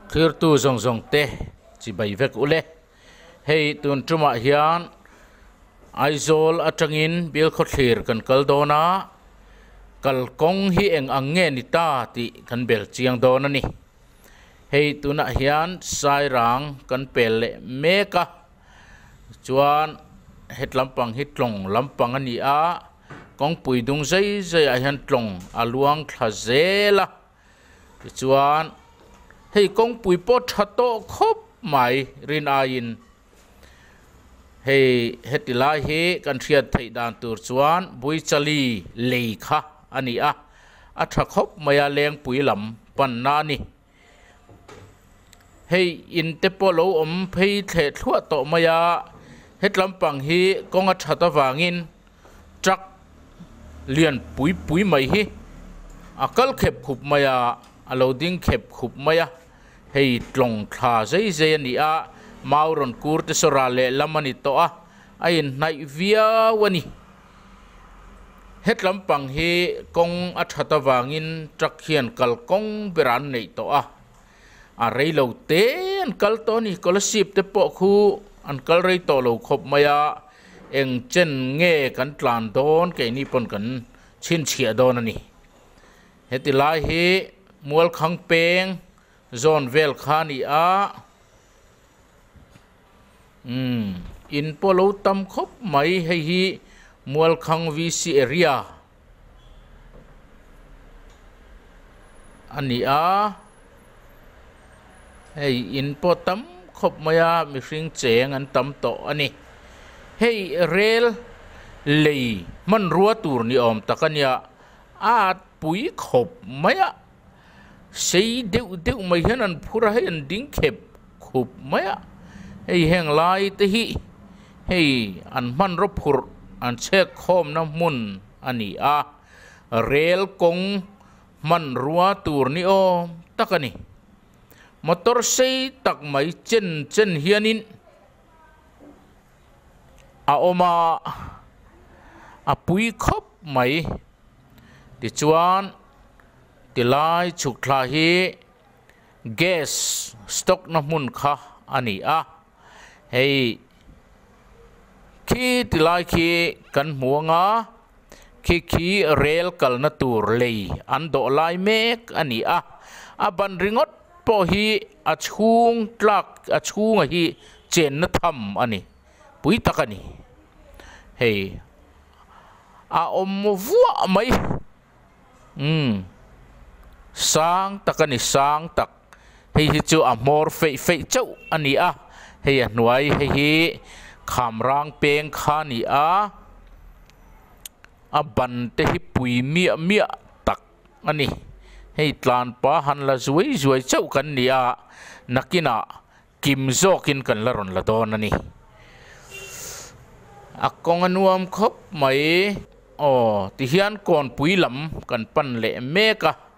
Thirtu zawng zawng te chibai vek u le. Hei tun ṭum ah hian Aizawl aṭang in bial khawthlir kan kal dawn a, kal kawng hi eng ang nge ni ta tih kan bel chiang dawn a ni. Hei tun ah hian Sairang kan pel leh mek a, chuan hetlam pang hi tlawng lam pang a ni a, Kawngpui dung zai zai ah hian tlawng a luang thla zel a, tichuan hei kawngpui pawh tha tawh khawp mai rin aiin hei heti lai hi kan hriat theih dan tur chuan Buichali lei kha a ni a, a tha khawp mai a lengpui lam panna a ni. Hei in te pawh lo awm phei thleh thluah tawh mai a, hetlam pang hi kawng a that avangin truck lian pui pui mai hi a kal khep khup mai a, a lo ding khep khup mai a, hei tlawng thla zai zai a ni a, mau rawn kur te saw ral leh lam a ni tawh a, a inhnaih viau a ni. Hetlam pang hi kawng a that avangin truck hian kal kawng berah an neih tawh a, a rei lo te an kal tawh a ni, scholarship te pawh khu an kal rei tawh lo khawp mai a, eng chen nge kan tlan dawn keini pawn kan chhinchhiah dawn a ni. Heti lai hi Mualkhang peng zone vel kha a ni a. Umm, in pawh lo tam khawp mai hei hi Mualkhang VC area a ni a. Hei in pawh tam khawp mai a, mihring cheng an tam tawh a ni. Hei rel lei hmanrua tur ni awm tak a nia, a at pui khawp mai a. sei deuh deuh mai hian an phur a hei an ding khep khup mai a hei heng lai te hi hei an hmanraw phurh an chhek khawmna hmun a ni a rel kawng hmanrua tur ni awm tak a ni motor sei tak mai chen chen hianin. a awm a, a pui khawp mai. Tichuan ti lai chhuk thla hi gas stock na hmun kha a ni a. Hei khi ti lai khi kan hmu anga. khi khi rel kalna tur lei an dawh lai mek a ni a, a ban ringawt pawh hi a chhung tlak a chhunga hi chenna tham a ni pui tak a ni. Hei a awm vuah mai umm sang tak a ni sang tak. hei hi chu a hmawr feih feih chauh a ni a hei a hnuai hei hi khamrang peng kha a ni a a ban te hi pui miah miah tak a ni hei tlan pa han la zuai zuai chauh kan ni a nakinah kim zawk in kan la rawn la dawn a ni a kawng a nuam khawp mai aw tihian kawnpui lam kan pan leh mek a.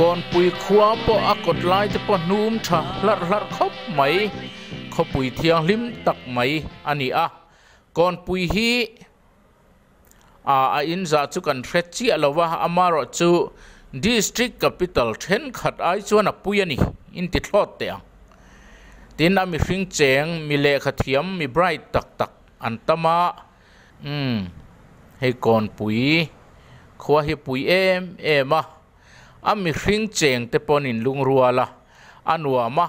Kawnpui khua pawh a kawt lai te pawh hnum tha hlarh hlarh khawp mai, khawpui thianghlim tak mai a ni a. Kawnpui hi a inzah chu kan hre chiah lo va, amarawh chu District Capital thenkhat ai chuan a pui a ni, in ti thlawt teh ang. Tin a mihring cheng, mi lehkha thiam, mi bright tak tak an tam a. Umm, hei Kawnpui khua hi pui em em a, a mihring cheng te pawn in lungrual a, a nuam a,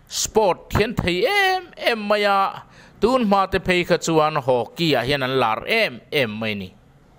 sport hian thei em em mai a, tunhma te phei kha chuan hockey ah hian an lar em em mai ni.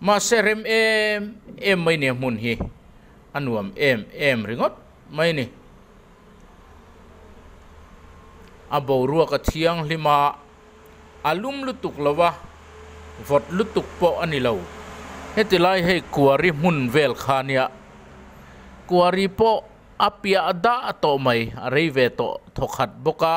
Mahse rem em em mai nia hmun hi a nuam em em ringawt mai ni. A boruaka thianghlima a lum lutuk lova vawt lutuk pawh a ni lo. Heti lai hei kuari hmun vel kha nia kuari pawh a piah dah tawh mai a rei ve tawh thawkhat bawk a.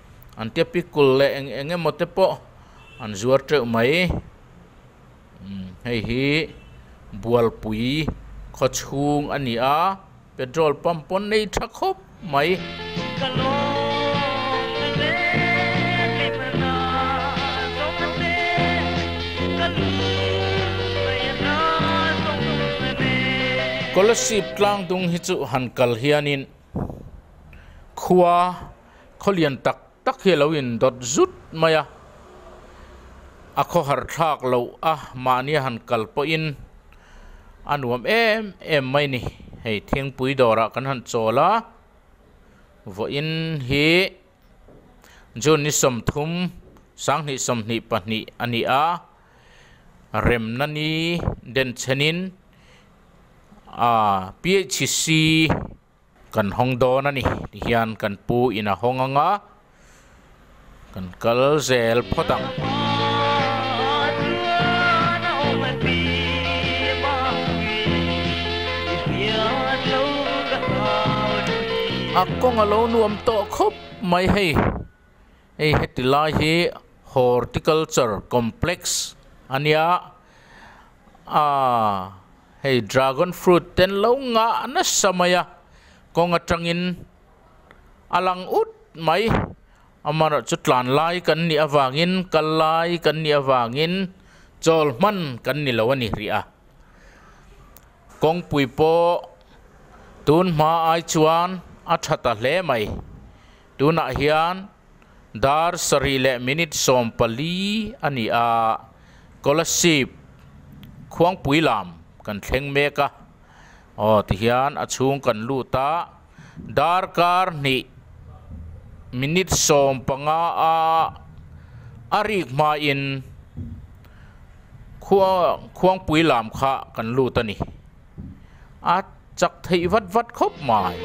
an typical leh eng eng emaw te pawh an zuar teuh mai umm hei hi bualpui khaw chhung a ni a petrol pump pawn nei tha khawp mai. Scholarship tlang dung hi chu han kal hianin khua. Khawlian tak tak hi a lo in dawt zut mai a, a khaw har thlak loh a mahni a han kal pawh in a nuam em em mai ni. Hei thingpui dawr ah kan han chawl a, vaw in hi June ni sawmthum sanghnih sawmhnih pahnih a ni a, remna ni denchhen in PHC Kan hawng dawn a ni ti hian kan pu in a hawng ang a, kan kal zel phawt ang. A kawng a lo nuam tawh khawp mai hei, hei heti lai hi Horticulture Complex a nia, aa. Hei dragon fruit ten lo nga nasa mai a, kawng atangin a lang ut mai. Amaherawhchu tlan lai kan nih avangin, kal lai kan nih avangin chawl hman kan ni lo a ni hrih a. Kawngpui pawh tunhma ai chuan a tha ta hle mai. Tunah hian dar sarih leh minute sawm pali a ni a, Kolasib Khuangpui lam kan thleng mek a, aw tihian a chhung kan lut a, dar kar hnih minute sawm panga a a rik hma in Khuangpui lam kha kan lut a ni. a chak theih vat vat khawp mai.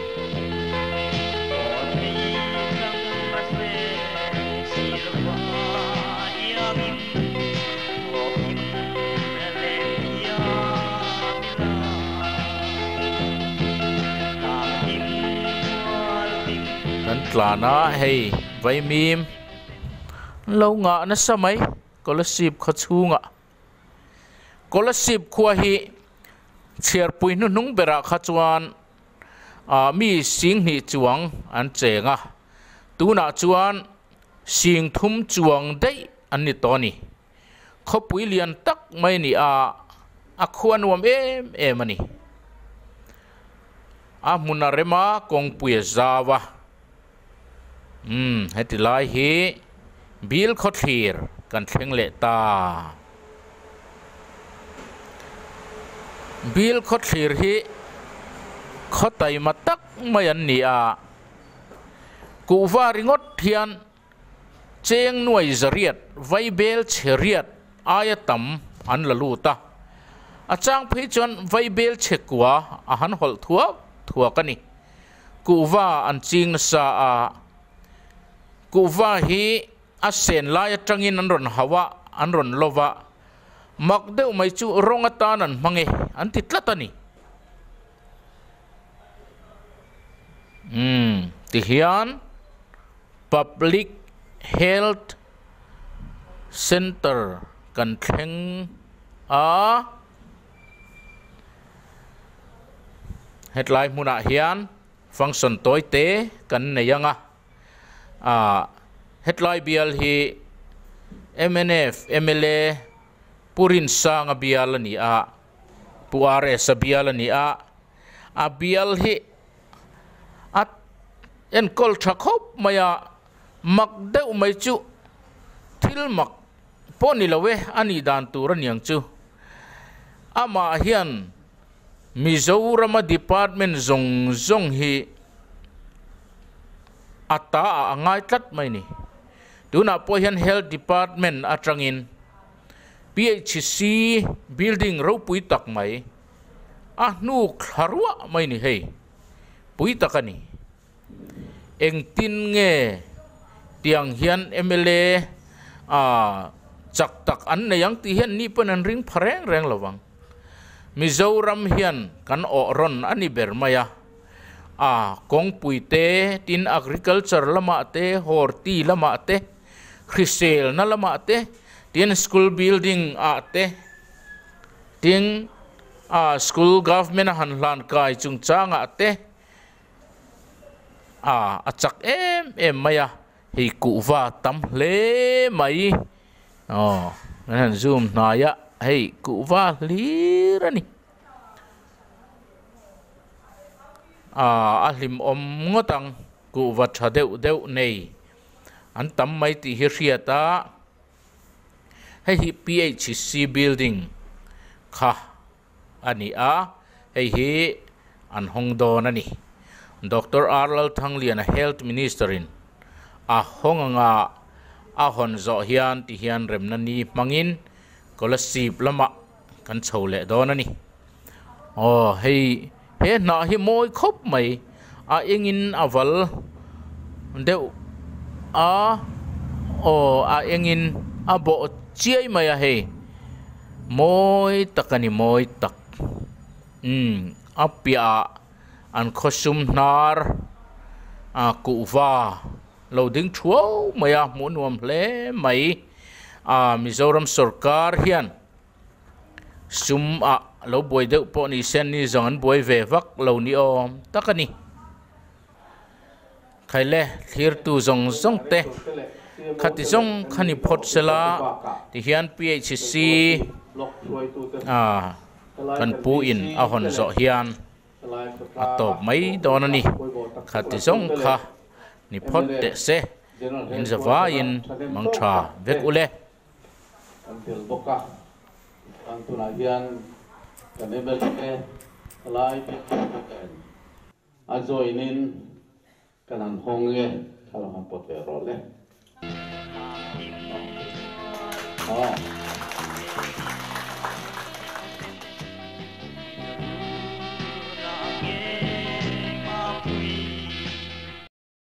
Kan tlan a hei vaimim an lo ngah nasa mai Kolasib khaw chhungah. Kolasib khua hi chhiarpui hnuhnung berah kha chuan mi sing hnih chuang an cheng a, tunah chuan sing thum chuang daih an ni tawh a ni. Khawpui lian tak mai ni a, a khua nuam em em a ni. A hmun a rem a, kawngpuia zau a. Umm, heti lai hi bil khawthlir kan thleng leh ta. Bil khawthlir hi khawtaima tak mai an ni a. Kuhva ringawt hian cheng nuai zariat, vaibel chheriat aia tam an la lut a. A chang phei chuan vaibel chhe kua a han hawlh thuak thuak a ni. Kuhva an ching nasa a, kuhva hi a sen lai atangin an rawn hauh a, an rawn lawp a, mak deuh mai chu rawng atan an hmang e, an ti tlat a ni. Umm tihian Public Health Centre kan thleng a. Hetlai hmunah hian function tawi te kan nei anga ahh hetlai bial hi mnf mla Pu Rinsanga bial a ni a, Pu RS-a bial a ni a, a bial hi a enkawl tha khawp mai a, Mak deuh mai chu thil mak pawh ni lo e a nih dan tur a niang chu. Amah hian Mizorama department zawng zawng hi a ta ah a ngai tlat mai ni. Tunah pawh hian health department atangin PHC building ropui tak mai a hnuk thla ruah mai ni hei. Pui tak a ni. Engtin nge tiang hian mla a chak tak an nei ang tih hian ni pawn an ring pha reng reng lo vang. Mizoram hian kan awh rawn a ni ber mai a. A kawngpui te, tin agriculture lamah te, horti lamah te, hriselna lamah te, tin school building ah te, tin school government a han hlan kai chungchang ah te, a a chak em em mai a hei kuh va tam hle mai aw an han zoom hnai a hei kuh va hlir a ni ah a hlim awm ngawt ang kuh va tha deuh deuh nei an tam mai tih hi hriat a hei hi P_H_C building kha. a ni a, hei hi an hawng dawn a ni. Doctor Ar Lalthangliana Health Minister-in a hawng anga a hawn zawh hian tihian remna ni hmangin Kolasib lamah kan chho leh dawn a ni. Aw hei. He hnah hi mawi khawp mai, a engin a val deuh a, aw a engin a bawh chiai mai a hei. Mawi tak a ni, mawi tak. Umm a piahah an khawsum hnar a kuhva lo ding thuau mai a, hmuh nuam hle mai. A Mizoram sorkar hian Sum a lo buai deuh pawh ni se an ni zawng an buai ve vak lo ni awm tak a ni. Khaile thlirtu zawng zawng te khati zawng khan i phawt se la tihian PHC a kan pu in a hawn zawh hian a tawp mai dawn a ni. Khati zawng kha ni phawt teh se in zavaiin mangtha vek ule. Kan tel bawk a, kan tunah hian kan MLA Kalai Bikthawkna nen a join in kan han hawng nge kha lo han pawt ve rawh le. Aww.